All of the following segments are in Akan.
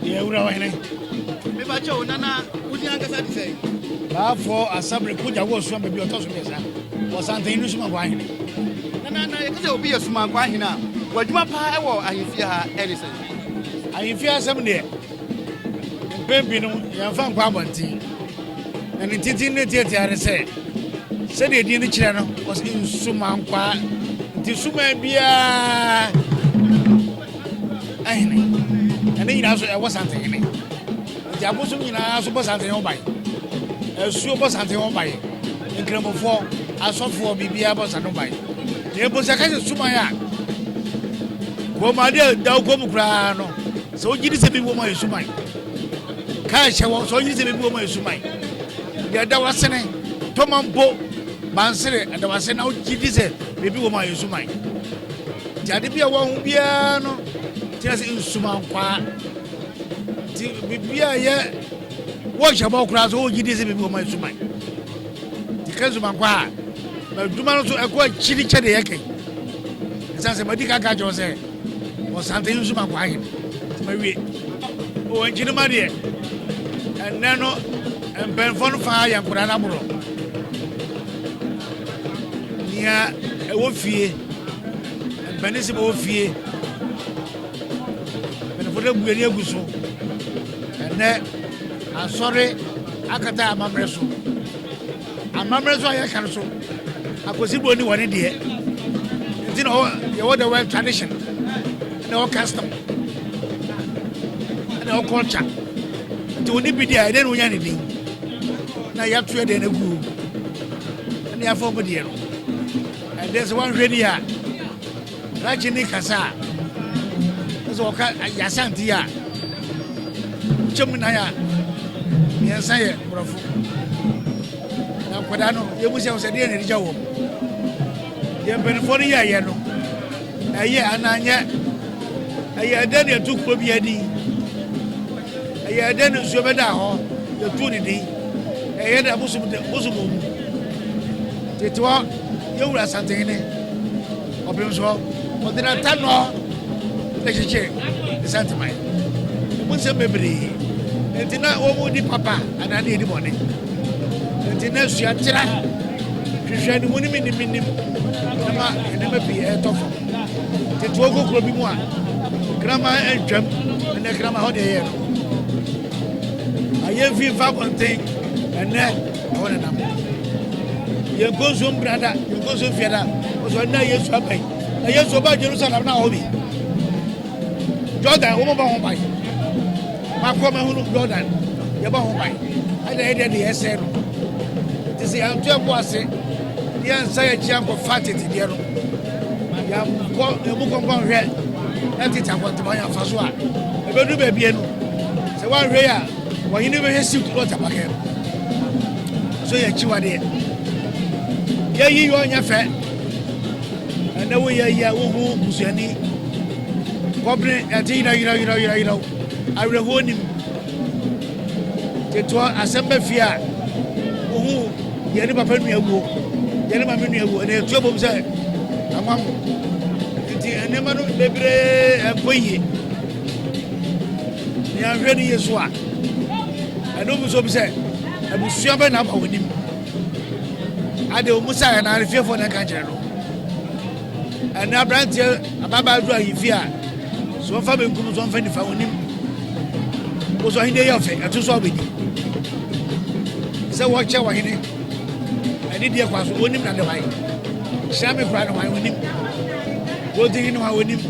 Yɛn wura ɔhene. Mefa kyɛ o nana wodi ankasa te sɛ. Baafo asabere kogya wɔ so ama bi ɔtɔ so mmiɛnsa. Wɔsanten no suma nkɔ ahene. Nana na yɛte sɛ obi yɛ suma nkɔ ahene a w'adwuma paa wɔ ahemfie ha ɛne sɛ. Ahemfie asɛm deɛ mpɛn bi no yɛmfa nkɔ abɔnten. Na ne titi ne tiatia ne sɛ sɛdeɛ din no kyerɛ no ɔsɛ nsuma nkɔ nti suma biara ahene ɛne nyinaa so ɛwɔ santen hene nti abosom nyinaa so bɔ santen ho ban asuo bɔ santen ho ban nkramofoɔ asɔfoɔ biribiara bɔ santen ho ban na ebo sɛ kɛse suman a kɔmade a daw kɔn mu koraa no sɛ wogye di sɛ bi wɔn ayɛ suman kaa hyɛ wɔn sɛ wogye di sɛ bi wɔn ayɛ suman deɛ ɛda wasene tɔmampo bansere ɛda wasene na wogye di sɛ biribi wɔn ayɛ suman. nti ade bi a wɔahu biara no kyerɛ sɛ nsumankwaa nti biribi a yɛ wɔhyɛ bɔ koraa so wɔgye di sɛ biribi wɔma nsuman nti ka nsumankwaa a adwuma no so ɛkɔ akyiri kyɛ de yɛkɛ ɛsiane sɛ madi ka ka kyerɛ sɛ ɔsante nsumankwaa hene nti mawie wɔnkyi no ma deɛ ɛnnɛ no mpɛnfoɔ no faa yɛ nkora no aborɔ nea ɛwɔ fie mpanin sɛ bɛwɔ fie mpanyinfo dɛ gu ani agu so ɛnɛ asɔre akata amammerɛ so amammerɛ so a yɛka no so akwasi bɔ ni wɔ ne deɛ nti na yɛwɔ the world tradition na ɛwɔ custom na ɛwɔ culture nti wɔn ni bi deɛ ɛdɛ na wɔnya ne din na yɛato yɛ deɛ no agu na yɛafa wɔn deɛ no Ɛdeɛ sɛ woanhwɛ ni a Rakye ne kasa a sɛ wɔka yɛasante a wokyɛ mu nan a mmiɛnsa yɛ borɔfo na nkwadaa no yɛmu sɛ sɛ deɛ nɛde gya wɔ deɛ mpanimfoɔ no yɛɛyɛ no ɛyɛ anaa nyɛ ɛyɛ ɛdɛ ne ɛtu kuro bi adi ɛyɛ ɛdɛ ne nsuo bɛda hɔ yɛtu ne din ɛyɛ dɛ bosom bosom mu Tete hɔ yɛn wura Asantehene Ɔpemsoɔ Ɔdenantano na kyekyere Nsanteman mu nsɛm bebree nti na wɔn di papa anaa ne yɛdi bɔne nti na sua tra hwehwɛ ne mu ne menim menim na ma nneɛma pii ɛretɔ fam tete hɔ kokuro bi mu a kraman antwam ɛnɛ kraman hɔ deɛ yɛ no ayɛ mfi mfa abɔnten ɛnɛ Ɛhɔ na nam no. Yɛn konso mbra da, yɛn konso mfia da. Ɔsɔ ɛnna Yesu aba yi. Na Yesu ɔba Jerusalem na ɔhɔ bi. Jordan, wɔn bɔ ho ban. Makɔ ma hunu Jordan, yɛbɔ ho ban. Ɛna yɛ deɛ de yɛsɛn no. Te sɛ yɛn ntoɛ bo ase, yɛn nsa yɛ kyia nkɔfa tete deɛ no. Yɛn kɔ yɛn mu kɔnkɔn hwɛ ɛtete akɔntoma yɛn afa so a. Ɛbɛdu baabi no. Sɛ wɔn ahwɛ yɛ a. Wɔnye no bɛhwɛ si kuro tapakɛ no so yɛ akyiwadeɛ. Yɛyi yɛ ɔnyɛ fɛ ɛnɛ wo yɛ yɛ wo ho busuani kɔbene ɛte yerɛ yerɛ yerɛ yerɛ yerɛ awerɛhoɔ nim tetoɔ asɛm bɛ fie a wo ho yɛ ne papa nua wuo yɛ ne mame nua wuo ɛnɛ ɛtuo bom sɛ amam nti nneɛma no bebree ɛnkɔ yie Nea nhwɛ no yie so a, ɛno mu nso bi sɛ abusua bɛ na aba wɔn anim. Ade wɔn sa yɛ na fiefoɔ na ɛka kyerɛ no. Ɛna aberanteɛ ababaa duru ahemfie a, so wɔn fa benkum so wɔn fa nifa wɔn anim. Wosɔ ahene yɛ ɔfɛ, ɛto so a wɔbɛdi. Sɛ wɔkyɛ wɔn hene, ɛne deɛ kwa so wɔn anim na de wɔn ayɛ. Hyɛn mi kura no wɔn anim. Wɔn ti hene wɔn anim.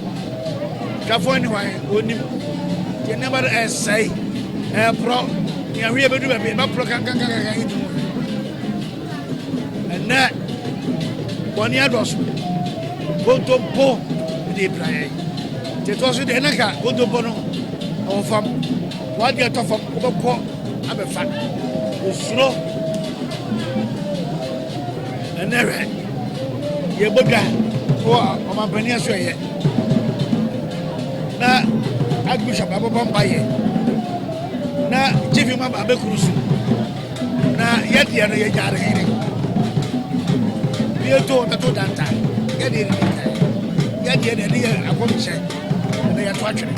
Twafoɔ ne hwan? Ɔnnim. Nti nneɛma no ɛsɛe, ɛreporɔ, ne ahweɛ bɛdu baabi, ɛbɛporɔ kankankankan yi tu mu. Ɛnnɛ, bɔne adɔso, kontompo de pira yɛn. Nti ɛtoɔ so deɛ, na ka kontompo no ɛwɔ fam, wade ɛtɔ fam, wobɛkɔ abɛfa, osuro. Ɛnnɛ hwɛ, yɛbɔ dwa wɔ ɔmampanin aso ɛyɛ. na archbishop abɛbɔ mpaeɛ na chief imam abɛkuru so na yɛdeɛ no yɛgya no hene yɛto bɛto danta yɛdeɛ no yɛdeɛ no ɛde yɛ akɔmhyɛ na yɛto atwene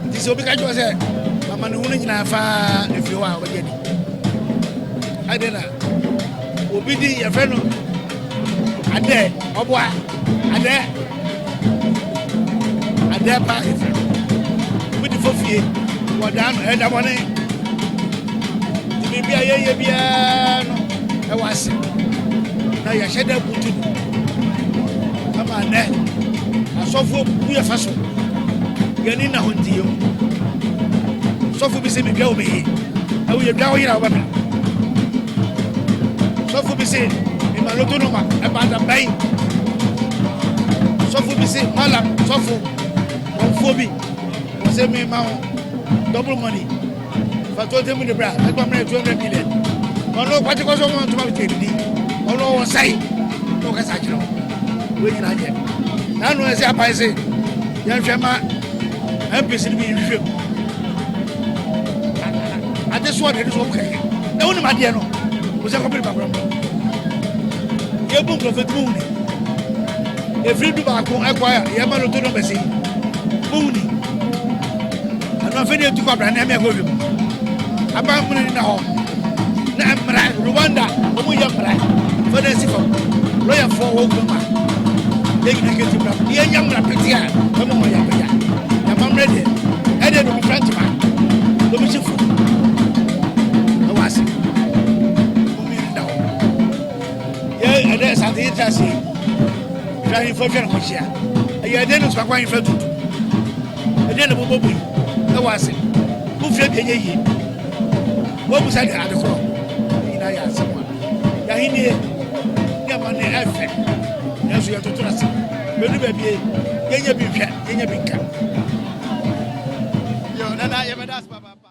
nti sɛ obi ka kyerɛ sɛ amanehunu nyinaa faa ɛfiri hɔ a wɔyɛ ni ɛdeɛ na Obi di yɛfrɛ no adɛ ɔboa adɛ adɛ pa efrɛ no obi di fofie wɔdaa no ɛda bɔne nti biribi a yɛyɛ biara no ɛwɔ ase na yɛhyɛ dɛ butu no ama nɛ asɔfoɔ bu yɛfa so yɛne na ho nti yɛhu sɔfo bi sɛ medwa wo mɛyi Awo yɛ dwa oyira ɔbɛka. Sɔfo bi se mema loto nɔma ɛbaata bɛn. Sɔfo bi se mala sɔfo wɔnfoɔ bi wɔ se mema ho double money fa to temu de bra ɛtɔ mmerɛ two hundred million. Ɔno kwakyekɔsɔ mu ntoma bi tɛ didi ɔno ɔwɔ sae na ɔkasa akyerɛ wo. wei nyinaa nyɛ na no ɛsɛ aban se yɛnhwɛ ma mpc no bi nhwɛ mu ade soɔ deɛ ne soɔ mu kɛkɛ na wonim adeɛ no wo sɛ kɔpere bakora mu yɛbu nkurɔfoɔ ti muwuni ɛfiri du baako ɛkɔ a yɛma no to nɔmbɛsi muwuni Ɛno afei na etu kɔ abira na ɛmɛ ɛkɔ wiem. Aban mmiri ni na hɔ. Na mmara Rwanda wɔn yɛ mmara fɔ na esi fam. Lɔya fɔ wɔn kura ma. Yɛ nyina kete mmara. Yɛ nya mmara pete a ɛmɔ wɔn yɛ abɛya. Na ma mmiri deɛ ɛdeɛ na omi fira ntoma. Omi si fo. Ɛwɔ ase. Omi ni na hɔ. Yɛ ɛdɛ sante yɛ ti ase. Yɛ ahemfo atwa ne ho hyia. Ɛyɛ ɛdeɛ na osu akɔ ahemfo atutu. Ɛdeɛn na mobɔ mu yi ɛwɔ ase? Mofie deɛ nyɛ yie. Wɔbu sa deɛ ade korɔ. Ne nyinaa yɛ asɛm a yɛahennie ne amanneɛ ɛfɛ. Nanso yɛtoto ase. Bɛdu baabi yɛnyɛ bi nhwɛ, yɛnyɛ bi nka. Yo, nana, yɛbɛda ase papaapa.